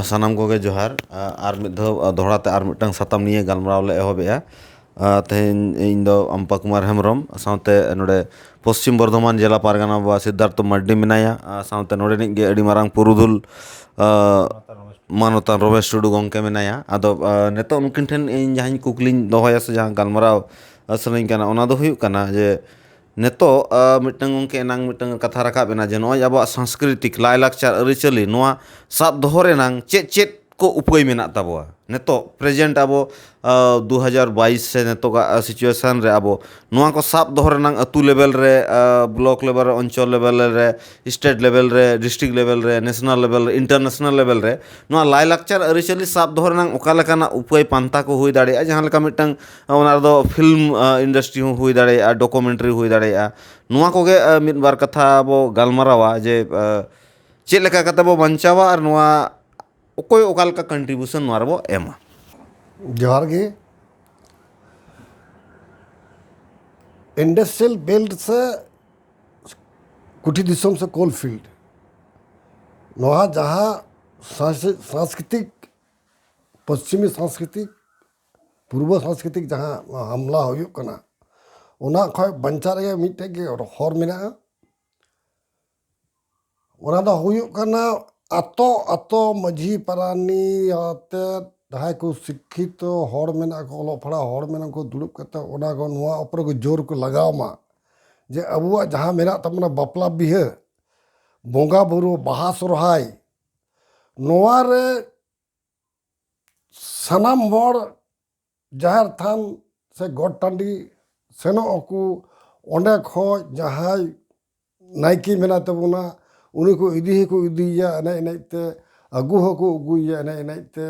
ᱥᱟᱱᱟᱢ ᱠᱚᱜᱮ ᱡᱚᱦᱟᱨ ᱟᱨ ᱢᱤᱫ ᱫᱷᱟᱣ ᱫᱚᱦᱲᱟ ᱛᱮ ᱟᱨ ᱢᱤᱫᱴᱟᱝ ᱥᱟᱛᱟᱢ ᱱᱤᱭᱮ ᱜᱟᱞᱢᱟᱨᱟᱣ ᱞᱮ ᱮᱦᱚᱵ ᱮᱜᱼᱟ ᱛᱮᱦᱮᱧ ᱤᱧ ᱫᱚ ᱟᱢᱯᱟ ᱠᱩᱢᱟᱨ ᱦᱮᱢᱵᱨᱚᱢ ᱥᱟᱶᱛᱮ ᱱᱚᱰᱮ ᱯᱚᱥᱪᱤᱢ ᱵᱚᱨᱫᱷᱚᱢᱟᱱ ᱡᱮᱞᱟ ᱯᱟᱨᱜᱟᱱᱟ ᱵᱟᱵᱟ ᱥᱤᱫᱽᱫᱷᱟᱨᱛᱷᱚ ᱢᱟᱹᱨᱰᱤ ᱢᱮᱱᱟᱭᱟ ᱟᱨ ᱥᱟᱶᱛᱮ ᱱᱚᱰᱮᱱᱤᱡ ᱜᱮ ᱟᱹᱰᱤ ᱢᱟᱨᱟᱝ ᱯᱩᱨᱩᱫᱷᱩᱞ ᱢᱟᱱᱚᱛᱟᱱ ᱨᱚᱢᱮᱥ ᱴᱩᱰᱩ ᱜᱚᱢᱠᱮ ᱢᱮᱱᱟᱭᱟ ᱟᱫᱚ ᱱᱤᱛᱚᱜ ᱩᱱᱠᱤᱱ ᱴᱷᱮᱱ ᱤᱧ ᱡᱟᱦᱟᱸ ᱠᱩᱠᱞᱤᱧ ᱫᱚᱦᱚᱭᱟ ᱥᱮ ᱡᱟᱦᱟᱸ ᱜᱟᱞᱢᱟᱨᱟᱣ ᱥᱟᱱᱟᱧ ᱠᱟᱱᱟ ᱚᱱᱟ ᱫᱚ ᱦᱩᱭᱩᱜ ᱠᱟᱱᱟ ᱡᱮ ᱱᱤᱛᱚᱜ ᱢᱤᱫᱴᱟᱹᱝ ᱜᱚᱢᱠᱮ ᱮᱱᱟᱝ ᱢᱤᱫᱴᱟᱹᱝ ᱠᱟᱛᱷᱟ ᱨᱟᱠᱟᱵ ᱮᱱᱟ ᱡᱮ ᱱᱚᱜᱼᱚᱭ ᱟᱵᱚᱣᱟᱜ ᱥᱟᱝᱥᱠᱨᱤᱛᱤᱠ ᱞᱟᱭᱼᱞᱟᱠᱪᱟᱨ ᱟᱹᱨᱤᱪᱟᱹᱞᱤ ᱱᱚᱣᱟ ᱥᱟᱵ ᱫᱚᱦᱚ ᱨᱮᱱᱟᱝ ᱪᱮᱫ ᱪᱮᱫ ᱠᱚ ᱩᱯᱟᱹᱭ ᱢᱮᱱᱟᱜ ᱛᱟᱵᱚᱣᱟ ᱱᱤᱛᱚᱜ ᱯᱨᱮᱡᱮᱱᱴ ᱟᱵᱚ ᱫᱩ ᱦᱟᱡᱟᱨ ᱵᱟᱭᱤᱥ ᱥᱮ ᱱᱤᱛᱚᱜᱟᱜ ᱥᱤᱪᱩᱭᱮᱥᱮᱱ ᱨᱮ ᱟᱵᱚ ᱱᱚᱣᱟ ᱠᱚ ᱥᱟᱵ ᱫᱚᱦᱚ ᱨᱮᱱᱟᱝ ᱟᱹᱛᱩ ᱞᱮᱵᱮᱞ ᱨᱮ ᱵᱞᱚᱠ ᱞᱮᱵᱮᱞ ᱨᱮ ᱚᱧᱪᱚᱞ ᱞᱮᱵᱮᱞ ᱨᱮ ᱥᱴᱮᱴ ᱞᱮᱵᱮᱞ ᱨᱮ ᱰᱤᱥᱴᱨᱤᱠ ᱞᱮᱵᱮᱞ ᱨᱮ ᱱᱮᱥᱱᱮᱞ ᱞᱮᱵᱮᱞ ᱨᱮ ᱤᱱᱴᱟᱨᱱᱮᱥᱱᱮᱞ ᱞᱮᱵᱮᱞ ᱨᱮ ᱱᱚᱣᱟ ᱞᱟᱭᱼᱞᱟᱠᱪᱟᱨ ᱟᱹᱨᱤᱪᱟᱹᱞᱤ ᱥᱟᱵ ᱫᱚᱦᱚ ᱨᱮᱱᱟᱝ ᱚᱠᱟ ᱞᱮᱠᱟᱱᱟᱜ ᱩᱯᱟᱹᱭ ᱯᱟᱱᱛᱷᱟ ᱠᱚ ᱦᱩᱭ ᱫᱟᱲᱮᱭᱟᱜᱼᱟ ᱡᱟᱦᱟᱸ ᱞᱮᱠᱟ ᱢᱤᱫᱴᱟᱹᱝ ᱚᱱᱟ ᱨᱮᱫᱚ ᱯᱷᱤᱞᱢ ᱤᱱᱰᱟᱥᱴᱨᱤ ᱦᱚᱸ ᱦᱩᱭ ᱫᱟᱲᱮᱭᱟᱜᱼᱟ ᱰᱚᱠᱳᱢᱮᱱᱴᱟᱨᱤ ᱦᱩᱭ ᱫᱟᱲᱮᱭᱟᱜᱼᱟ ᱱᱚᱣᱟ ᱠᱚᱜᱮ ᱢᱤᱫ ᱵᱟᱨ ᱠᱟᱛᱷᱟ ᱵᱚ ᱜᱟᱞᱢᱟᱨᱟᱣᱟ ᱡᱮ ᱪᱮᱫ ᱞᱮᱠᱟ ᱠᱟᱛᱮᱫ ᱵᱚᱱ ᱵᱟᱧᱪᱟᱣᱟ ᱟᱨ ᱱᱚᱣᱟ ᱚᱠᱚᱭ ᱚᱠᱟ ᱞᱮᱠᱟ ᱠᱚᱱᱴᱨᱤᱵᱤᱭᱩᱥᱚᱱ ᱱᱚᱣᱟ ᱨᱮᱵᱚᱱ ᱮᱢᱟ ᱡᱚᱦᱟᱨ ᱜᱮ ᱤᱱᱰᱟᱥᱴᱨᱤᱭᱟᱞ ᱵᱮᱞᱴ ᱥᱮ ᱠᱩᱴᱤᱨ ᱫᱤᱥᱚᱢ ᱥᱮ ᱠᱳᱞ ᱯᱷᱤᱞᱰ ᱱᱚᱣᱟ ᱡᱟᱦᱟᱸ ᱥᱟᱝᱥᱠᱨᱤᱛᱤᱠ ᱯᱚᱥᱪᱤᱢᱤ ᱥᱟᱝᱥᱠᱨᱤᱛᱤᱠ ᱯᱩᱨᱵᱚ ᱥᱟᱝᱥᱠᱨᱤᱛᱤᱠ ᱡᱟᱦᱟᱸ ᱦᱟᱢᱞᱟ ᱦᱩᱭᱩᱜ ᱠᱟᱱᱟ ᱚᱱᱟ ᱠᱷᱚᱡ ᱵᱟᱧᱪᱟᱜ ᱨᱮᱭᱟᱜ ᱢᱤᱫᱴᱮᱡ ᱜᱮ ᱦᱚᱨ ᱢᱮᱱᱟᱜᱼᱟ ᱚᱱᱟ ᱫᱚ ᱦᱩᱭᱩᱜ ᱠᱟᱱᱟ ᱟᱛᱳ ᱟᱛᱳ ᱢᱟᱹᱡᱷᱤ ᱯᱟᱨᱟᱱᱤᱠ ᱟᱛᱮᱫ ᱡᱟᱦᱟᱸᱭ ᱠᱚ ᱥᱤᱠᱠᱷᱤᱛᱚ ᱦᱚᱲ ᱢᱮᱱᱟᱜ ᱠᱚ ᱚᱞᱚᱜ ᱯᱟᱲᱦᱟᱣ ᱦᱚᱲ ᱢᱮᱱᱟᱜ ᱠᱚ ᱫᱩᱲᱩᱵ ᱠᱟᱛᱮ ᱚᱱᱟ ᱠᱚ ᱱᱚᱣᱟ ᱩᱯᱚᱨᱮ ᱠᱚ ᱡᱳᱨ ᱠᱚ ᱞᱟᱜᱟᱣ ᱢᱟ ᱡᱮ ᱟᱵᱚᱣᱟᱜ ᱡᱟᱦᱟᱸ ᱢᱮᱱᱟᱜ ᱛᱟᱵᱚᱱᱟ ᱵᱟᱯᱞᱟ ᱵᱤᱦᱟᱹ ᱵᱚᱸᱜᱟ ᱵᱳᱨᱳ ᱵᱟᱦᱟ ᱥᱚᱨᱦᱟᱭ ᱱᱚᱣᱟ ᱨᱮ ᱥᱟᱱᱟᱢ ᱦᱚᱲ ᱡᱟᱦᱮᱨ ᱛᱷᱟᱱ ᱥᱮ ᱜᱚᱴ ᱴᱟᱺᱰᱤ ᱥᱮᱱᱚᱜ ᱟᱠᱚ ᱚᱸᱰᱮ ᱠᱷᱚᱱ ᱡᱟᱦᱟᱸᱭ ᱱᱟᱭᱠᱮ ᱢᱮᱱᱟᱭ ᱛᱟᱵᱚᱱᱟ ᱩᱱᱤ ᱠᱚ ᱤᱫᱤ ᱦᱚᱸᱠᱚ ᱤᱫᱤᱭᱮᱭᱟ ᱮᱱᱮᱡ ᱮᱱᱮᱡ ᱛᱮ ᱟᱹᱜᱩ ᱦᱚᱸᱠᱚ ᱟᱹᱜᱩᱭᱮᱭᱟ ᱮᱱᱮᱡ ᱮᱱᱮᱡ ᱛᱮ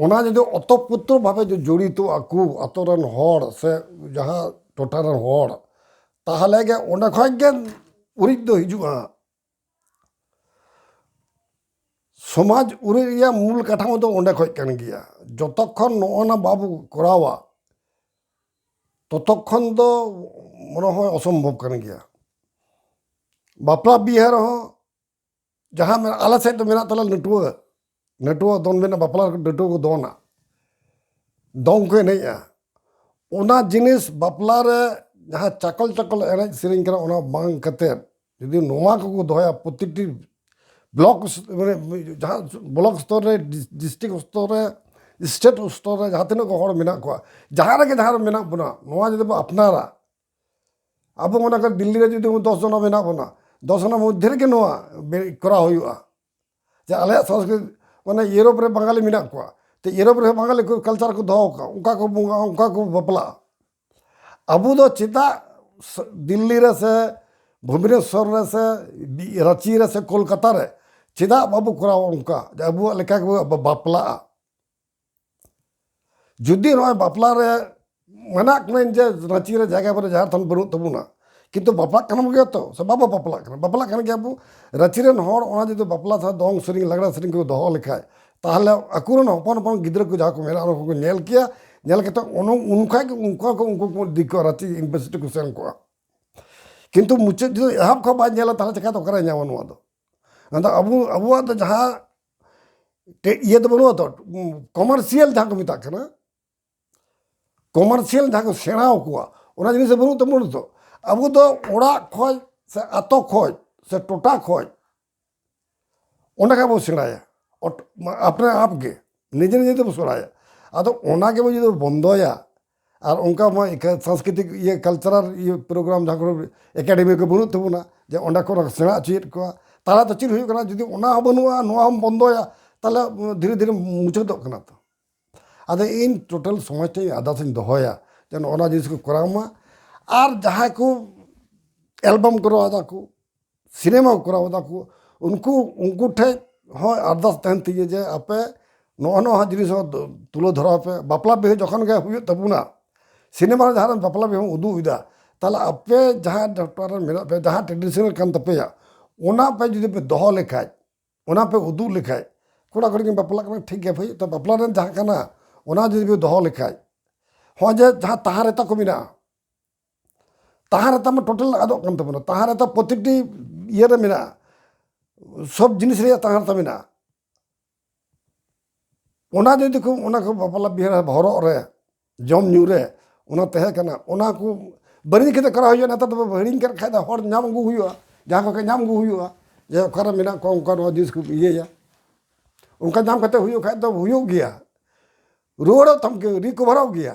ᱚᱱᱟ ᱡᱩᱫᱤ ᱚᱛᱚᱛ ᱯᱨᱚᱛᱚ ᱵᱷᱟᱵᱮ ᱡᱚᱲᱤᱛᱚ ᱟᱠᱚ ᱟᱹᱛᱩ ᱨᱮᱱ ᱦᱚᱲ ᱥᱮ ᱡᱟᱦᱟᱸ ᱴᱚᱴᱷᱟ ᱨᱮᱱ ᱦᱚᱲ ᱛᱟᱦᱚᱞᱮ ᱜᱮ ᱚᱸᱰᱮ ᱠᱷᱚᱱ ᱜᱮ ᱩᱨᱤᱡ ᱫᱚ ᱦᱤᱡᱩᱜᱼᱟ ᱥᱚᱢᱟᱡᱽ ᱩᱨᱤᱡ ᱨᱮᱭᱟᱜ ᱢᱩᱞ ᱠᱟᱴᱷᱟᱢᱳ ᱫᱚ ᱚᱸᱰᱮ ᱠᱷᱚᱱ ᱠᱟᱱ ᱜᱮᱭᱟ ᱡᱚᱛᱚᱠᱷᱚᱱ ᱱᱚᱜᱼᱚ ᱱᱟ ᱵᱟᱵᱚ ᱠᱚᱨᱟᱣᱟ ᱛᱚᱛᱚᱠᱷᱚᱱ ᱫᱚ ᱢᱚᱱᱮ ᱦᱚᱭ ᱚᱥᱚᱢᱵᱷᱚᱵ ᱠᱟᱱ ᱜᱮᱭᱟ ᱵᱟᱯᱞᱟ ᱵᱤᱦᱟᱹ ᱨᱮᱦᱚᱸ ᱡᱟᱦᱟᱸ ᱟᱞᱮ ᱥᱮᱫ ᱫᱚ ᱢᱮᱱᱟᱜ ᱛᱟᱞᱮᱭᱟ ᱱᱟᱹᱴᱩᱣᱟᱹ ᱱᱟᱹᱴᱩᱣᱟᱹ ᱫᱚᱱ ᱢᱮᱱᱟᱜᱼᱟ ᱵᱟᱯᱞᱟ ᱨᱮ ᱱᱟᱹᱴᱩᱣᱟᱹ ᱠᱚ ᱫᱚᱱᱟ ᱫᱚᱝ ᱠᱚ ᱮᱱᱮᱡᱼᱟ ᱚᱱᱟ ᱡᱤᱱᱤᱥ ᱵᱟᱯᱞᱟ ᱨᱮ ᱡᱟᱦᱟᱸ ᱪᱟᱠᱚᱞ ᱪᱟᱠᱚᱞ ᱮᱱᱮᱡ ᱥᱮᱨᱮᱧ ᱠᱟᱱᱟ ᱚᱱᱟ ᱵᱟᱝ ᱠᱟᱛᱮ ᱡᱩᱫᱤ ᱱᱚᱣᱟ ᱠᱚᱠᱚ ᱫᱚᱦᱚᱭᱟ ᱯᱨᱚᱛᱤᱴᱤ ᱵᱞᱚᱠ ᱢᱟᱱᱮ ᱡᱟᱦᱟᱸ ᱵᱞᱚᱠ ᱥᱛᱚᱨ ᱨᱮ ᱰᱤᱥᱴᱤᱠ ᱥᱛᱚᱨ ᱨᱮ ᱥᱴᱮᱴ ᱥᱛᱚᱨ ᱨᱮ ᱡᱟᱦᱟᱸ ᱛᱤᱱᱟᱹᱜ ᱜᱮ ᱦᱚᱲ ᱢᱮᱱᱟᱜ ᱠᱚᱣᱟ ᱡᱟᱦᱟᱸ ᱨᱮᱜᱮ ᱡᱟᱦᱟᱸ ᱨᱮ ᱢᱮᱱᱟᱜ ᱵᱚᱱᱟ ᱱᱚᱣᱟ ᱡᱩᱫᱤ ᱵᱚᱱ ᱟᱯᱱᱟᱨᱟ ᱟᱵᱚ ᱢᱚᱱᱮ ᱠᱟᱜ ᱫᱤᱞᱞᱤ ᱨᱮ ᱡᱩᱫᱤ ᱫᱚᱥ ᱡᱚᱱᱟ ᱢᱮᱱᱟᱜ ᱵᱚᱱᱟ ᱫᱚᱥ ᱡᱚᱱᱟ ᱢᱚᱫᱽᱫᱷᱮ ᱨᱮᱜᱮ ᱱᱚᱣᱟ ᱠᱚᱨᱟᱣ ᱦᱩᱭᱩᱜᱼᱟ ᱡᱮ ᱟᱞᱮᱭᱟᱜ ᱥᱚᱝᱥᱠᱨᱤᱛ ᱢᱟᱱᱮ ᱤᱭᱳᱨᱳᱯ ᱨᱮ ᱵᱟᱝᱜᱟᱞᱤ ᱢᱮᱱᱟᱜ ᱠᱚᱣᱟ ᱛᱚ ᱤᱭᱳᱨᱳᱯ ᱨᱮᱦᱚᱸ ᱵᱟᱝᱜᱟᱞᱤ ᱠᱚ ᱠᱟᱞᱪᱟᱨ ᱠᱚ ᱫᱚᱦᱚ ᱟᱠᱟᱫᱼᱟ ᱚᱱᱠᱟ ᱠᱚ ᱵᱚᱸᱜᱟᱜᱼᱟ ᱚᱱᱠᱟ ᱠᱚ ᱵᱟᱯᱞᱟᱜᱼᱟ ᱟᱵᱚ ᱫᱚ ᱪᱮᱫᱟᱜ ᱫᱤᱞᱞᱤ ᱨᱮ ᱥᱮ ᱵᱷᱩᱵᱽᱱᱮᱥᱥᱚᱨ ᱨᱮ ᱥᱮ ᱨᱟᱺᱪᱤ ᱨᱮ ᱥᱮ ᱠᱳᱞᱠᱟᱛᱟ ᱨᱮ ᱪᱮᱫᱟᱜ ᱵᱟᱵᱚ ᱠᱚᱨᱟᱣᱟ ᱚᱱᱠᱟ ᱡᱮ ᱟᱵᱚᱣᱟᱜ ᱞᱮᱠᱟ ᱜᱮᱵᱚ ᱵᱟᱯᱞᱟᱜᱼᱟ ᱡᱩᱫᱤ ᱱᱚᱜᱼᱚᱭ ᱵᱟᱯᱞᱟ ᱨᱮ ᱢᱟᱱᱟᱜ ᱠᱟᱹᱱᱟᱹᱧ ᱡᱮ ᱨᱟᱺᱪᱤ ᱨᱮ ᱡᱟᱭᱜᱟ ᱵᱟᱹᱱᱩᱜᱼᱟ ᱡᱟᱦᱮᱨ ᱛᱷᱟᱱ ᱵᱟᱹᱱᱩᱜ ᱛᱟᱵᱚᱱᱟ ᱠᱤᱱᱛᱩ ᱵᱟᱯᱞᱟᱜ ᱠᱟᱱ ᱜᱮᱭᱟ ᱛᱚ ᱥᱮ ᱵᱟᱵᱚ ᱵᱟᱯᱞᱟᱜ ᱠᱟᱱᱟ ᱵᱟᱯᱞᱟᱜ ᱠᱟᱱ ᱜᱮᱭᱟ ᱵᱚ ᱨᱟᱺᱪᱤ ᱨᱮᱱ ᱦᱚᱲ ᱚᱱᱟ ᱡᱩᱫᱤ ᱵᱟᱯᱞᱟ ᱥᱟᱶ ᱫᱚᱝ ᱥᱮᱨᱮᱧ ᱞᱟᱜᱽᱲᱮ ᱥᱮᱨᱮᱧ ᱠᱚ ᱫᱚᱦᱚ ᱞᱮᱠᱷᱟᱡ ᱛᱟᱦᱚᱞᱮ ᱟᱠᱚ ᱨᱮᱱ ᱦᱚᱯᱚᱱ ᱦᱚᱯᱚᱱ ᱜᱤᱫᱽᱨᱟᱹ ᱠᱚ ᱡᱟᱦᱟᱸ ᱠᱚ ᱢᱮᱱᱟᱜ ᱠᱚ ᱩᱱᱠᱩ ᱠᱚ ᱧᱮᱞ ᱠᱮᱭᱟ ᱧᱮᱞ ᱠᱟᱛᱮ ᱩᱱ ᱠᱷᱚᱡ ᱜᱮ ᱩᱱᱠᱩ ᱦᱚᱸ ᱩᱱᱠᱩ ᱠᱚ ᱤᱫᱤ ᱠᱚᱣᱟ ᱨᱟᱺᱪᱤ ᱤᱭᱩᱱᱤᱵᱷᱟᱨᱥᱤᱴᱤ ᱠᱚ ᱥᱮᱱ ᱠᱚᱜᱼᱟ ᱠᱤᱱᱛᱩ ᱢᱩᱪᱟᱹᱫ ᱡᱩᱫᱤ ᱮᱦᱚᱵ ᱠᱷᱚᱡ ᱵᱟᱭ ᱧᱮᱞᱟ ᱛᱟᱦᱚᱞᱮ ᱪᱤᱠᱟᱛᱮ ᱚᱠᱟᱨᱮᱭ ᱧᱟᱢᱟ ᱱᱚᱣᱟ ᱫᱚ ᱟᱫᱚ ᱟᱵᱚ ᱟᱵᱚᱣᱟᱜ ᱫᱚ ᱡᱟᱦᱟᱸ ᱤᱭᱟᱹ ᱫᱚ ᱵᱟᱹᱱᱩᱜᱼᱟ ᱛᱚ ᱠᱚᱢᱟᱨᱥᱤᱭᱟᱞ ᱡᱟᱦᱟᱸ ᱠᱚ ᱢᱮᱛᱟᱜ ᱠᱟᱱᱟ ᱠᱚᱢᱟᱨᱥᱤᱭᱟᱞ ᱡᱟᱦᱟᱸ ᱠᱚ ᱥᱮᱬᱟ ᱟᱠᱚᱣᱟ ᱚᱱᱟ ᱡᱤᱱᱤᱥ ᱫᱚ ᱵᱟᱹᱱᱩᱜ ᱛᱟᱵᱚᱱᱟ ᱛᱚ ᱟᱵᱚ ᱫᱚ ᱚᱲᱟᱜ ᱠᱷᱚᱡ ᱥᱮ ᱟᱛᱳ ᱠᱷᱚᱡ ᱥᱮ ᱴᱚᱴᱷᱟ ᱠᱷᱚᱡ ᱚᱸᱰᱮ ᱠᱷᱚᱡ ᱵᱚᱱ ᱥᱮᱬᱟᱭᱟ ᱟᱯᱱᱟ ᱟᱯ ᱜᱮ ᱱᱤᱡᱮ ᱱᱤᱡᱮ ᱛᱮᱵᱚᱱ ᱥᱮᱬᱟᱭᱟ ᱟᱫᱚ ᱚᱱᱟ ᱜᱮᱵᱚᱱ ᱡᱩᱫᱤ ᱵᱚᱱ ᱵᱚᱱᱫᱚᱭᱟ ᱟᱨ ᱚᱱᱠᱟ ᱢᱟ ᱥᱟᱝᱥᱠᱨᱤᱛᱤᱠ ᱤᱭᱟᱹ ᱠᱟᱞᱪᱟᱨᱟᱞ ᱤᱭᱟᱹ ᱯᱨᱳᱜᱨᱟᱢ ᱡᱟᱦᱟᱸ ᱠᱚᱨᱮ ᱮᱠᱟᱰᱮᱢᱤ ᱠᱚ ᱵᱟᱹᱱᱩᱜ ᱛᱟᱵᱚᱱᱟ ᱡᱮ ᱚᱸᱰᱮ ᱠᱷᱚᱱ ᱥᱮᱬᱟ ᱦᱚᱪᱚᱭᱮᱫ ᱠᱚᱣᱟ ᱛᱟᱦᱚᱞᱮ ᱫᱚ ᱪᱮᱫ ᱦᱩᱭᱩᱜ ᱠᱟᱱᱟ ᱡᱩᱫᱤ ᱚᱱᱟ ᱦᱚᱸ ᱵᱟᱹᱱᱩᱜᱼᱟ ᱱᱚᱣᱟ ᱦᱚᱸᱢ ᱵᱚᱱᱫᱚᱭᱟ ᱛᱟᱦᱚᱞᱮ ᱫᱷᱤᱨᱮ ᱫᱷᱤᱨᱮ ᱢᱩᱪᱟᱹᱫᱚᱜ ᱠᱟᱱᱟ ᱛᱚ ᱟᱫᱚ ᱤᱧ ᱴᱳᱴᱟᱞ ᱥᱚᱢᱟᱡᱽ ᱴᱷᱮᱱ ᱟᱨᱫᱟᱥ ᱤᱧ ᱫᱚᱦᱚᱭᱟ ᱡᱮ ᱱᱚᱜᱼᱚ ᱱᱚᱣᱟ ᱡᱤᱱᱤᱥ ᱠᱚ ᱠᱚᱨᱟᱣ ᱢᱟ ᱟᱨ ᱡᱟᱦᱟᱸᱭ ᱠᱚ ᱮᱞᱵᱟᱢ ᱠᱚ ᱠᱚᱨᱟᱣ ᱫᱟᱠᱚ ᱥᱤᱱᱮᱢᱟ ᱠᱚ ᱠᱚᱨᱟᱣ ᱮᱫᱟ ᱠᱚ ᱩᱱᱠᱩ ᱩᱱᱠᱩ ᱴᱷᱮᱡ ᱦᱚᱸ ᱟᱨᱫᱟᱥ ᱛᱟᱦᱮᱱ ᱛᱤᱧᱟᱹ ᱡᱮ ᱟᱯᱮ ᱱᱚᱜᱼᱚ ᱱᱚᱣᱟ ᱡᱤᱱᱤᱥ ᱦᱚᱸ ᱛᱩᱞᱟᱹᱣ ᱫᱷᱚᱨᱟᱣ ᱯᱮ ᱵᱟᱯᱞᱟ ᱵᱤᱦᱟᱹ ᱡᱚᱠᱷᱚᱱ ᱜᱮ ᱦᱩᱭᱩᱜ ᱛᱟᱵᱚᱱᱟ ᱥᱤᱱᱮᱢᱟ ᱨᱮ ᱡᱟᱦᱟᱸ ᱨᱮ ᱵᱟᱯᱞᱟ ᱵᱤᱦᱟᱹᱢ ᱩᱫᱩᱜ ᱮᱫᱟ ᱛᱟᱦᱚᱞᱮ ᱟᱯᱮ ᱡᱟᱦᱟᱸ ᱴᱚᱴᱷᱟ ᱨᱮ ᱢᱮᱱᱟᱜ ᱯᱮᱭᱟ ᱡᱟᱦᱟᱸ ᱴᱨᱮᱰᱤᱥᱚᱱᱟᱞ ᱠᱟᱱ ᱛᱟᱯᱮᱭᱟ ᱚᱱᱟ ᱯᱮ ᱡᱩᱫᱤ ᱯᱮ ᱫᱚᱦᱚ ᱞᱮᱠᱷᱟᱡ ᱚᱱᱟ ᱯᱮ ᱩᱫᱩᱜ ᱞᱮᱠᱷᱟᱡ ᱠᱚᱲᱟ ᱠᱩᱲᱤ ᱠᱤᱱ ᱵᱟᱯᱞᱟᱜ ᱠᱟᱱᱟ ᱴᱷᱤᱠ ᱜᱮᱭᱟ ᱵᱷᱟᱹᱭ ᱵᱟᱯᱞᱟ ᱨᱮ ᱡᱟᱦᱟᱸ ᱠᱟᱱᱟ ᱚᱱᱟ ᱡᱩᱫᱤ ᱯᱮ ᱫᱚᱦᱚ ᱞᱮᱠᱷᱟᱡ ᱦᱚᱸᱜᱼᱚᱭ ᱡᱮ ᱡᱟᱦᱟᱸ ᱛᱟᱦᱟᱸ ᱨᱮᱛᱟ ᱠᱚ ᱢᱮᱱᱟᱜᱼᱟ ᱛᱟᱦᱟᱸ ᱨᱮᱛᱟᱢ ᱴᱳᱴᱟᱞ ᱟᱫᱚᱜ ᱠᱟᱱ ᱛᱟᱵᱚᱱᱟ ᱛᱟᱦᱟᱸ ᱨᱮᱛᱟ ᱯᱨᱚᱛᱮᱠᱴᱤ ᱤᱭᱟᱹ ᱨᱮ ᱢᱮᱱᱟᱜᱼᱟ ᱥᱚᱵ ᱡᱤᱱᱤᱥ ᱨᱮᱭᱟᱜ ᱛᱟᱦᱟᱸ ᱨᱮᱛᱟ ᱢᱮᱱᱟᱜᱼᱟ ᱚᱱᱟ ᱡᱩᱫᱤ ᱠᱚ ᱚᱱᱟ ᱠᱚ ᱵᱟᱯᱞᱟ ᱵᱤᱦᱟᱹ ᱦᱚᱨᱚᱜ ᱨᱮ ᱡᱚᱢ ᱧᱩ ᱨᱮ ᱚᱱᱟ ᱛᱟᱦᱮᱸ ᱠᱟᱱᱟ ᱚᱱᱟ ᱠᱚ ᱵᱟᱹᱲᱤᱡ ᱠᱟᱛᱮ ᱠᱚᱨᱟᱣ ᱦᱩᱭᱩᱜᱼᱟ ᱱᱮᱛᱟᱨ ᱫᱚ ᱦᱤᱲᱤᱧ ᱠᱟᱜ ᱠᱷᱟᱡ ᱫᱚ ᱦᱚᱲ ᱧᱟᱢ ᱟᱹᱜᱩ ᱦᱩᱭᱩᱜᱼᱟ ᱡᱟᱦᱟᱸ ᱠᱚ ᱠᱷᱚᱡ ᱧᱟᱢ ᱟᱹᱜᱩ ᱦᱩᱭᱩᱜᱼᱟ ᱡᱮ ᱚᱠᱟᱨᱮ ᱢᱮᱱᱟᱜ ᱠᱚᱣᱟ ᱚᱱᱠᱟ ᱱᱚᱣᱟ ᱡᱤᱱᱤᱥ ᱠᱚ ᱤᱭᱟᱹᱭᱟ ᱚᱱᱠᱟ ᱧᱟᱢ ᱠᱟᱛᱮ ᱦᱩᱭᱩᱜ ᱠᱷᱟᱡ ᱫᱚ ᱦᱩᱭᱩᱜ ᱜᱮᱭᱟ ᱨᱩᱣᱟᱹᱲᱚᱜ ᱛᱟᱢ ᱜᱮᱭᱟ ᱨᱤᱠᱚᱵᱷᱟᱨᱚᱜ ᱜᱮᱭᱟ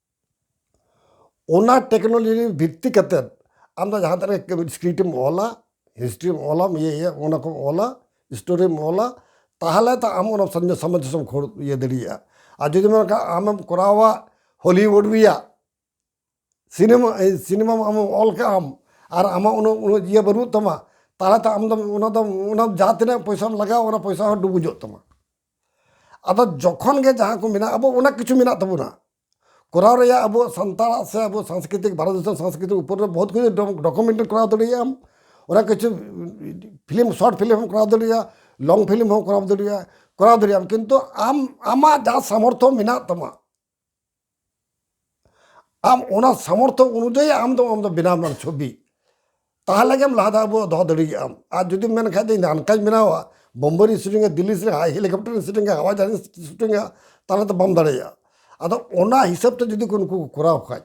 ᱚᱱᱟ ᱴᱮᱠᱱᱳᱞᱚᱡᱤ ᱵᱷᱤᱛᱛᱤ ᱠᱟᱛᱮ ᱟᱢ ᱫᱚ ᱡᱟᱦᱟᱸ ᱛᱤᱱᱟᱹᱜ ᱜᱮ ᱥᱠᱨᱤᱯᱴ ᱮᱢ ᱚᱞᱟ ᱦᱤᱥᱴᱨᱤᱢ ᱚᱞᱟ ᱤᱭᱟᱹ ᱚᱱᱟ ᱠᱚᱢ ᱚᱞᱟ ᱥᱴᱳᱨᱤᱢ ᱚᱞᱟ ᱛᱟᱦᱚᱞᱮ ᱛᱚ ᱟᱢ ᱚᱱᱟ ᱥᱟᱢᱚᱧᱡᱚᱥᱥᱚ ᱠᱷᱚᱱ ᱤᱭᱟᱹ ᱫᱟᱲᱮᱭᱟᱜᱼᱟ ᱟᱨ ᱡᱩᱫᱤ ᱢᱮᱱ ᱠᱷᱟᱱ ᱟᱢᱮᱢ ᱠᱚᱨᱟᱣᱟ ᱦᱚᱞᱤᱣᱩᱰ ᱨᱮᱭᱟᱜ ᱥᱤᱱᱮᱢᱟ ᱥᱤᱱᱮᱢᱟ ᱟᱢ ᱚᱞ ᱠᱟᱜ ᱟᱢ ᱟᱨ ᱟᱢᱟᱜ ᱩᱱᱟᱹᱜ ᱤᱭᱟᱹ ᱵᱟᱹᱱᱩᱜ ᱛᱟᱢᱟ ᱛᱟᱦᱚᱞᱮ ᱛᱚ ᱟᱢ ᱫᱚ ᱚᱱᱟ ᱫᱚ ᱚᱱᱟ ᱡᱟᱦᱟᱸ ᱛᱤᱱᱟᱹᱜ ᱯᱚᱭᱥᱟᱢ ᱞᱟᱜᱟᱣ ᱚᱱᱟ ᱯᱚᱭᱥᱟ ᱦᱚᱸ ᱰᱩᱵᱩᱡᱚᱜ ᱛᱟᱢᱟ ᱟᱫᱚ ᱡᱚᱠᱷᱚᱱ ᱜᱮ ᱡᱟᱦᱟᱸ ᱠᱚ ᱢᱮᱱᱟᱜ ᱟᱵᱚ ᱚᱱᱟ ᱠᱤᱪᱷᱩ ᱢᱮᱱᱟᱜ ᱛᱟᱵᱚᱱᱟ ᱠᱚᱨᱟᱣ ᱨᱮᱭᱟᱜ ᱟᱵᱚ ᱥᱟᱱᱛᱟᱲᱟᱜ ᱥᱮ ᱟᱵᱚ ᱥᱟᱝᱥᱠᱨᱤᱛᱤᱠ ᱵᱷᱟᱨᱚᱛ ᱫᱤᱥᱚᱢ ᱥᱟᱝᱥᱠᱨᱤᱛᱤᱠ ᱩᱯᱚᱨ ᱨᱮ ᱵᱚᱦᱩᱛ ᱠᱤᱪᱷᱩ ᱰᱚᱠᱩᱢᱮᱱᱴ ᱠᱚᱨᱟᱣ ᱫᱟᱲᱮᱭᱟᱜ ᱟᱢ ᱚᱱᱟ ᱠᱤᱪᱷᱩ ᱯᱷᱤᱞᱢ ᱥᱚᱨᱴ ᱯᱷᱤᱞᱢ ᱦᱚᱸ ᱠᱚᱨᱟᱣ ᱫᱟᱲᱮᱭᱟᱜᱼᱟ ᱞᱚᱝ ᱯᱷᱤᱞᱢ ᱦᱚᱸ ᱠᱚᱨᱟᱣ ᱫᱟᱲᱮᱭᱟᱜᱼᱟ ᱠᱚᱨᱟᱣ ᱫᱟᱲᱮᱭᱟᱜ ᱟᱢ ᱠᱤᱱᱛᱩ ᱟᱢ ᱟᱢᱟᱜ ᱡᱟᱦᱟᱸ ᱥᱟᱢᱚᱨᱛᱷᱚ ᱢᱮᱱᱟᱜ ᱛᱟᱢᱟ ᱟᱢ ᱚᱱᱟ ᱥᱟᱢᱚᱨᱛᱷᱚ ᱚᱱᱩᱡᱟᱭᱤ ᱟᱢ ᱫᱚ ᱟᱢ ᱫᱚ ᱵᱮᱱᱟᱣ ᱢᱮ ᱪᱷᱚᱵᱤ ᱛᱟᱦᱞᱮ ᱜᱮᱢ ᱞᱟᱦᱟ ᱫᱷᱟᱣ ᱟᱵᱚ ᱫᱚᱦᱚ ᱫᱟᱲᱮᱭᱟᱜᱼᱟᱢ ᱟᱨ ᱡᱩᱫᱤᱢ ᱢᱮᱱ ᱠᱷᱟᱡ ᱫᱚ ᱤᱧ ᱫᱚ ᱦᱟᱱᱠᱟᱧ ᱵᱮᱱᱟᱣᱟ ᱵᱳᱢᱵᱮ ᱨᱮᱧ ᱥᱩᱴᱤᱝᱟ ᱫᱤᱞᱞᱤ ᱨᱮ ᱦᱮᱞᱤᱠᱚᱯᱴᱟᱨ ᱨᱮᱧ ᱥᱩᱴᱤᱝᱟ ᱦᱟᱣᱟᱭ ᱡᱟᱦᱟᱡᱽ ᱨᱮᱧ ᱥᱩᱴᱤᱝᱟ ᱛᱟᱦᱞᱮ ᱫᱚ ᱵᱟᱢ ᱫᱟᱲᱮᱭᱟᱜᱼᱟ ᱟᱫᱚ ᱚᱱᱟ ᱦᱤᱥᱟᱹᱵ ᱛᱮ ᱡᱩᱫᱤ ᱠᱚ ᱱᱩᱠᱩ ᱠᱚ ᱠᱚᱨᱟᱣ ᱠᱷᱟᱡ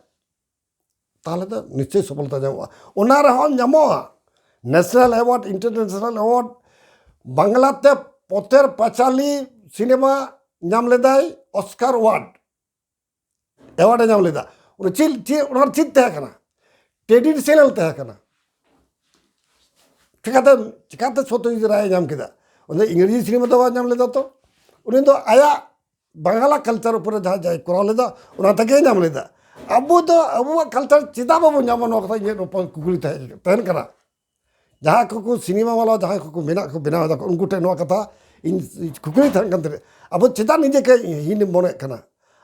ᱛᱟᱦᱚᱞᱮ ᱫᱚ ᱱᱤᱥᱪᱚᱭ ᱥᱚᱯᱷᱚᱞᱚᱛᱟ ᱧᱟᱢᱚᱜᱼᱟ ᱚᱱᱟ ᱨᱮᱦᱚᱸ ᱧᱟᱢᱚᱜᱼᱟ ᱱᱮᱥᱱᱮᱞ ᱮᱣᱟᱨᱰ ᱤᱱᱴᱟᱨᱱᱮᱥᱱᱮᱞ ᱮᱣᱟᱨᱰ ᱵᱟᱝᱞᱟᱛᱮ ᱯᱚᱛᱮᱨ ᱯᱟᱪᱟᱞᱤ ᱥᱤᱱᱮᱢᱟ ᱧᱟᱢ ᱞᱮᱫᱟᱭ ᱚᱥᱠᱟᱨ ᱳᱣᱟᱨᱰ ᱮᱣᱟᱨᱰ ᱮ ᱧᱟᱢ ᱞᱮᱫᱟ ᱚᱱᱟ ᱪᱮᱫ ᱪᱮᱫ ᱚᱱᱟ ᱪᱮᱫ ᱛᱟᱦᱮᱸ ᱠᱟᱱᱟ ᱴᱨᱮᱰᱤᱥᱚᱱᱟᱞ ᱛᱟᱦᱮᱸ ᱠᱟᱱᱟ ᱪᱤᱠᱟᱛᱮ ᱪᱤᱠᱟᱛᱮ ᱥᱚᱛᱭᱚᱡᱤᱛ ᱨᱟᱭ ᱧᱟᱢ ᱠᱮᱫᱟ ᱚᱱᱟ ᱤᱝᱨᱮᱡᱤ ᱥᱤᱱᱮᱢᱟ ᱫᱚ ᱵᱟᱭ ᱧᱟᱢ ᱞᱮᱫᱟ ᱛᱚ ᱩᱱᱤ ᱫᱚ ᱟᱭᱟᱜ ᱵᱟᱝᱞᱟ ᱠᱟᱞᱪᱟᱨ ᱩᱯᱚᱨᱮ ᱡᱟᱦᱟᱸ ᱡᱟᱭ ᱠᱚᱨᱟᱣ ᱞᱮᱫᱟ ᱚᱱᱟ ᱛᱮᱜᱮ ᱧᱟᱢ ᱞᱮᱫᱟ ᱟᱵᱚ ᱫᱚ ᱟᱵᱚᱣᱟᱜ ᱠᱟᱞᱪᱟᱨ ᱪᱮᱫᱟᱜ ᱵᱟᱵᱚ ᱧᱟᱢᱟ ᱱᱚᱣᱟ ᱠᱟᱛᱷᱟ ᱤᱧᱟᱹᱜ ᱨᱚᱯᱚᱲ ᱠᱩᱠᱞᱤ ᱛᱟᱦᱮᱱ ᱠᱟᱱᱟ ᱡᱟᱦᱟᱸᱭ ᱠᱚᱠᱚ ᱥᱤᱱᱮᱢᱟ ᱵᱟᱞᱟ ᱡᱟᱦᱟᱸᱭ ᱠᱚᱠᱚ ᱢᱮᱱᱟᱜ ᱠᱚ ᱵᱮᱱᱟᱣ ᱫᱟᱠᱚ ᱩᱱᱠᱩ ᱴᱷᱮᱱ ᱱᱚᱣᱟ ᱠᱟᱛᱷᱟ ᱤᱧ ᱠᱩᱠᱞᱤ ᱛᱟᱦᱮᱱ ᱠᱟᱱ ᱛᱟᱦᱮᱸᱫ ᱟᱵᱚ ᱪᱮᱫᱟᱜ ᱱᱤᱡᱮ ᱠᱟᱹᱡ ᱦᱤᱱᱮᱢ ᱢᱚᱱᱮᱜ ᱠᱟᱱᱟ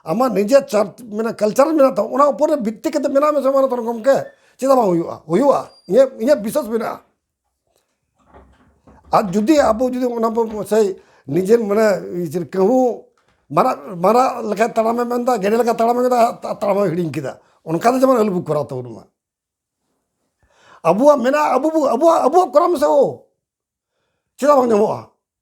ᱟᱢᱟᱜ ᱱᱤᱡᱮ ᱪᱟᱨ ᱢᱟᱱᱮ ᱠᱟᱞᱪᱟᱨ ᱢᱮᱱᱟᱜ ᱛᱟᱢᱟ ᱚᱱᱟ ᱩᱯᱚᱨᱮ ᱵᱷᱤᱛᱛᱤ ᱠᱟᱛᱮ ᱢᱮᱱᱟᱜ ᱢᱮᱥᱮ ᱢᱟᱱᱚᱛᱟᱱ ᱜᱚᱢᱠᱮ ᱪᱮᱫᱟᱜ ᱵᱟᱝ ᱦᱩᱭᱩᱜᱼᱟ ᱦᱩᱭᱩᱜᱼᱟ ᱤᱧᱟᱹᱜ ᱤᱧᱟᱹᱜ ᱵᱤᱥᱥᱟᱥ ᱢᱮᱱᱟᱜᱼᱟ ᱟᱨ ᱡᱩᱫᱤ ᱟᱵᱚ ᱡᱩᱫᱤ ᱚᱱᱟ ᱵᱚᱱ ᱥᱮᱭ ᱱᱤᱡᱮ ᱢᱟᱱᱮ ᱠᱟᱹᱦᱩ ᱢᱟᱨᱟᱜ ᱢᱟᱨᱟᱜ ᱞᱮᱠᱟᱭ ᱛᱟᱲᱟᱢᱮ ᱢᱮᱱᱫᱟ ᱜᱮᱰᱮ ᱞᱮᱠᱟᱭ ᱛᱟᱲᱟᱢᱮ ᱢᱮᱱᱫᱟ ᱟᱭᱟᱜ ᱛᱟᱲᱟᱢ ᱦᱚᱸᱭ ᱦᱤᱲᱤᱧ ᱠᱮᱫᱟ ᱚᱱᱠᱟ ᱫᱚ ᱡᱮᱢᱚᱱ ᱟᱞᱚ ᱵᱚᱱ ᱠᱚᱨᱟᱣ ᱛᱟᱵᱚᱱ ᱢᱟ ᱟᱵᱚᱣᱟᱜ ᱢᱮᱱᱟᱜᱼᱟ ᱟᱵᱚ ᱵᱚᱱ ᱟᱵᱚᱣᱟᱜ ᱠᱚᱨᱟᱣ ᱢᱮᱥᱮ ᱦᱳ ᱪᱮᱫᱟᱜ ᱵᱟᱝ ᱧᱟᱢᱚᱜᱼᱟ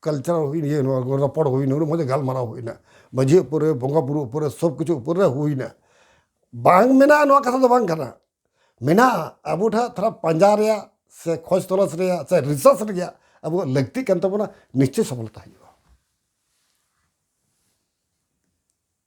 ᱠᱟᱞᱪᱟᱨ ᱦᱩᱭᱮᱱ ᱤᱭᱟᱹ ᱱᱚᱣᱟ ᱠᱚ ᱨᱚᱯᱚᱲ ᱦᱩᱭᱮᱱᱟ ᱩᱱᱟᱹᱜ ᱢᱚᱡᱽ ᱜᱟᱞᱢᱟᱨᱟᱣ ᱦᱩᱭᱮᱱᱟ ᱢᱟᱺᱡᱷᱤ ᱩᱯᱚᱨ ᱨᱮ ᱵᱚᱸᱜᱟ ᱵᱩᱨᱩ ᱩᱯᱚᱨ ᱨᱮ ᱥᱚᱵᱽ ᱠᱤᱪᱷᱩ ᱩᱯᱚᱨ ᱨᱮ ᱦᱩᱭᱮᱱᱟ ᱵᱟᱝ ᱢᱮᱱᱟᱜᱼᱟ ᱱᱚᱣᱟ ᱠᱟᱛᱷᱟ ᱫᱚ ᱵᱟᱝ ᱠᱟᱱᱟ ᱢᱮᱱᱟᱜᱼᱟ ᱟᱵᱚ ᱴᱷᱮᱱ ᱛᱷᱚᱲᱟ ᱯᱟᱸᱡᱟ ᱨᱮᱭᱟᱜ ᱥᱮ ᱠᱷᱚᱡᱽ ᱛᱚᱞᱟᱥ ᱨᱮᱭᱟᱜ ᱥᱮ ᱨᱤᱥᱟᱨᱪ ᱨᱮᱭᱟᱜ ᱟᱵᱚᱣᱟᱜ ᱞᱟᱹᱠᱛᱤᱜ ᱠᱟᱱ ᱛᱟᱵᱚᱱᱟ ᱱᱤᱥᱪᱳᱭ ᱥᱚᱯᱷᱚᱞᱚᱛᱟ ᱦᱩᱭᱩᱜᱼᱟ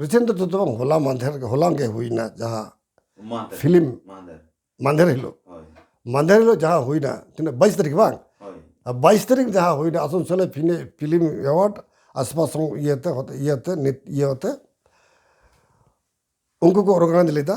ᱨᱤᱥᱮᱱᱴ ᱫᱚ ᱡᱚᱛᱚ ᱵᱟᱝ ᱦᱚᱞᱟ ᱢᱟᱫᱷᱮᱨ ᱦᱚᱞᱟᱝ ᱜᱮ ᱦᱩᱭᱱᱟ ᱡᱟᱦᱟᱸ ᱯᱷᱤᱞᱢ ᱢᱟᱫᱷᱮᱨ ᱦᱤᱞᱳᱜ ᱢᱟᱫᱷᱮᱨ ᱦᱤᱞᱳᱜ ᱡᱟᱦᱟᱸ ᱦᱩᱭᱱᱟ ᱛᱤᱱᱟᱹᱜ ᱵᱟᱭᱤᱥ ᱛᱟᱹᱨᱤᱠᱷ ᱵᱟᱝ ᱵᱟᱭᱤᱥ ᱛᱟᱹᱨᱤᱠᱷ ᱡᱟᱦᱟᱸ ᱦᱩᱭᱱᱟ ᱟᱥᱟᱱᱥᱳᱞ ᱯᱷᱤᱞᱢ ᱮᱣᱟᱨᱰ ᱟᱥᱢᱟ ᱥᱚᱝ ᱤᱭᱟᱹᱛᱮ ᱤᱭᱟᱹᱛᱮ ᱱᱤᱛ ᱤᱭᱟᱹᱛᱮ ᱩᱱᱠᱩ ᱠᱚ ᱚᱨᱜᱟᱱᱟᱭᱤᱡᱽ ᱞᱮᱫᱟ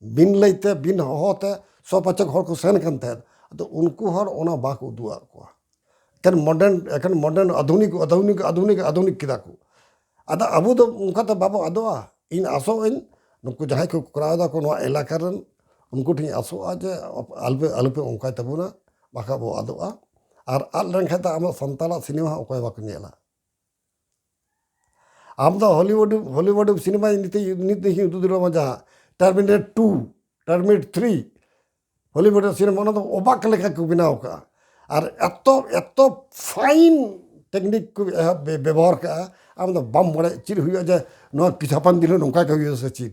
ᱵᱤᱱ ᱞᱟᱹᱭᱛᱮ ᱵᱤᱱ ᱦᱚᱦᱚᱛᱮ ᱥᱚᱯᱟᱪᱚᱠ ᱦᱚᱲ ᱠᱚ ᱥᱮᱱ ᱠᱟᱱ ᱛᱟᱦᱮᱸᱫ ᱟᱫᱚ ᱩᱱᱠᱩ ᱦᱚᱲ ᱚᱱᱟ ᱵᱟᱠᱚ ᱩᱫᱩᱜ ᱟᱫ ᱠᱚᱣᱟ ᱮᱠᱷᱮᱱ ᱢᱚᱰᱟᱨᱱ ᱮᱠᱷᱮᱱ ᱢᱚᱰᱟᱨᱱ ᱟᱫᱷᱩᱱᱤᱠ ᱟᱫᱷᱩᱱᱤᱠ ᱟᱫᱷᱩᱱᱤᱠ ᱟᱫᱷᱩᱱᱤᱠ ᱠᱮᱫᱟ ᱠᱚ ᱟᱫᱚ ᱟᱵᱚ ᱫᱚ ᱚᱱᱠᱟ ᱫᱚ ᱵᱟᱵᱚ ᱟᱫᱚᱜᱼᱟ ᱤᱧ ᱟᱥᱚᱜ ᱟᱹᱧ ᱱᱩᱠᱩ ᱡᱟᱦᱟᱸᱭ ᱠᱚ ᱠᱚᱨᱟᱣ ᱫᱟᱠᱚ ᱱᱚᱣᱟ ᱮᱞᱟᱠᱟ ᱨᱮᱱ ᱩᱱᱠᱩ ᱴᱷᱮᱱ ᱤᱧ ᱟᱥᱚᱜᱼᱟ ᱡᱮ ᱟᱞᱚᱯᱮ ᱟᱞᱚᱯᱮ ᱚᱱᱠᱟᱭ ᱛᱟᱵᱚᱱᱟ ᱵᱟᱠᱷᱟᱡ ᱵᱚ ᱟᱫᱚᱜᱼᱟ ᱟᱨ ᱟᱫ ᱞᱮᱱᱠᱷᱟᱡ ᱫᱚ ᱟᱵᱚ ᱥᱟᱱᱛᱟᱲᱟᱜ ᱥᱤᱱᱮᱢᱟ ᱦᱚᱸ ᱚᱠᱚᱭ ᱦᱚᱸ ᱵᱟᱠᱚ ᱧᱮᱞᱟ ᱟᱢ ᱫᱚ ᱦᱚᱞᱤᱣᱩᱰ ᱦᱚᱞᱤᱣᱩᱰ ᱥᱤᱱᱮᱢᱟ ᱱᱤᱛ ᱱᱤᱛ ᱫᱮᱠᱷᱤ ᱩᱫᱩᱜ ᱫᱟᱲᱮᱭᱟᱢᱟ ᱡᱟᱦᱟᱸ Terminator two Terminator three Hollywood cinema ᱚᱱᱟ ᱫᱚ ᱚᱵᱟᱠ ᱞᱮᱠᱟ ᱠᱚ ᱵᱮᱱᱟᱣ ᱠᱟᱜᱼᱟ ᱟᱨ ᱮᱛᱚ ᱮᱛᱚ ᱯᱷᱟᱭᱤᱱ ᱴᱮᱠᱱᱤᱠ ᱠᱚ ᱮᱦᱚᱵ ᱵᱮᱵᱚᱦᱟᱨ ᱠᱟᱜᱼᱟ ᱟᱢ ᱫᱚ ᱵᱟᱢ ᱵᱟᱲᱟᱭᱟ ᱪᱮᱫ ᱦᱩᱭᱩᱜᱼᱟ ᱡᱮ ᱱᱚᱣᱟ ᱠᱤᱪᱷᱩ ᱦᱟᱯᱮᱱ ᱫᱤᱱ ᱨᱮ ᱱᱚᱝᱠᱟ ᱜᱮ ᱦᱩᱭᱩᱜᱼᱟ ᱥᱮ ᱪᱮᱫ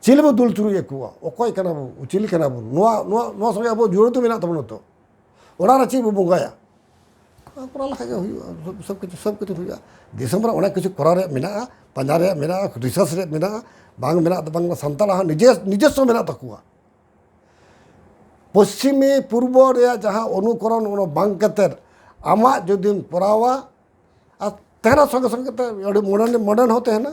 ᱪᱮᱫ ᱵᱚ ᱫᱩᱞ ᱪᱩᱨᱩᱡ ᱟᱠᱚᱣᱟ ᱚᱠᱚᱭ ᱠᱟᱱᱟ ᱵᱚ ᱪᱮᱫ ᱠᱟᱱᱟ ᱵᱚ ᱱᱚᱣᱟ ᱱᱚᱣᱟ ᱱᱚᱣᱟ ᱥᱚᱸᱜᱮ ᱟᱵᱚ ᱡᱩᱲᱟᱹᱣ ᱫᱚ ᱢᱮᱱᱟᱜ ᱛᱟᱵᱚᱱᱟ ᱛᱚ ᱚᱲᱟᱜ ᱨᱮ ᱪᱮᱫ ᱵᱚ ᱵᱚᱸᱜᱟᱭᱟ ᱠᱚᱨᱟᱣ ᱞᱮᱠᱷᱟᱡ ᱜᱮ ᱦᱩᱭᱩᱜᱼᱟ ᱥᱚᱵ ᱠᱤᱪᱷᱩ ᱥᱚᱵ ᱠᱤᱪᱷᱩ ᱦᱩᱭᱩᱜᱼᱟ ᱫᱤᱥᱚᱢ ᱨᱮ ᱚᱱᱮᱠ ᱠᱤᱪᱷᱩ ᱠᱚᱨᱟᱣ ᱨᱮᱭᱟᱜ ᱢᱮᱱᱟᱜᱼᱟ ᱯᱟᱸᱡᱟ ᱨᱮᱭᱟᱜ ᱢᱮᱱᱟᱜᱼᱟ ᱨᱤᱥᱟᱨᱪ ᱨᱮᱭᱟᱜ ᱢᱮᱱᱟᱜᱼᱟ ᱵᱟᱝ ᱢᱮᱱᱟᱜ ᱫᱚ ᱵᱟᱝ ᱥᱟᱱᱛᱟᱲᱟᱜ ᱦᱚᱸ ᱱᱤᱡᱮ ᱱᱤᱡᱮᱥᱥᱚ ᱢᱮᱱᱟᱜ ᱛᱟᱠᱚᱣᱟ ᱯᱚᱥᱪᱤᱢᱤ ᱯᱩᱨᱵᱚ ᱨᱮᱭᱟᱜ ᱡᱟᱦᱟᱸ ᱚᱱᱩᱠᱚᱨᱚᱱ ᱚᱱᱟ ᱵᱟᱝ ᱠᱟᱛᱮ ᱟᱢᱟᱜ ᱡᱩᱫᱤᱢ ᱠᱚᱨᱟᱣᱟ ᱟᱨ ᱛᱟᱦᱮᱱᱟ ᱥᱚᱸᱜᱮ ᱥᱚᱸᱜᱮ ᱛᱮ ᱟᱹᱰᱤ ᱢᱚᱰᱟᱨᱱ ᱢᱚᱰᱟᱨᱱ ᱦᱚᱸ ᱛᱟᱦᱮᱱᱟ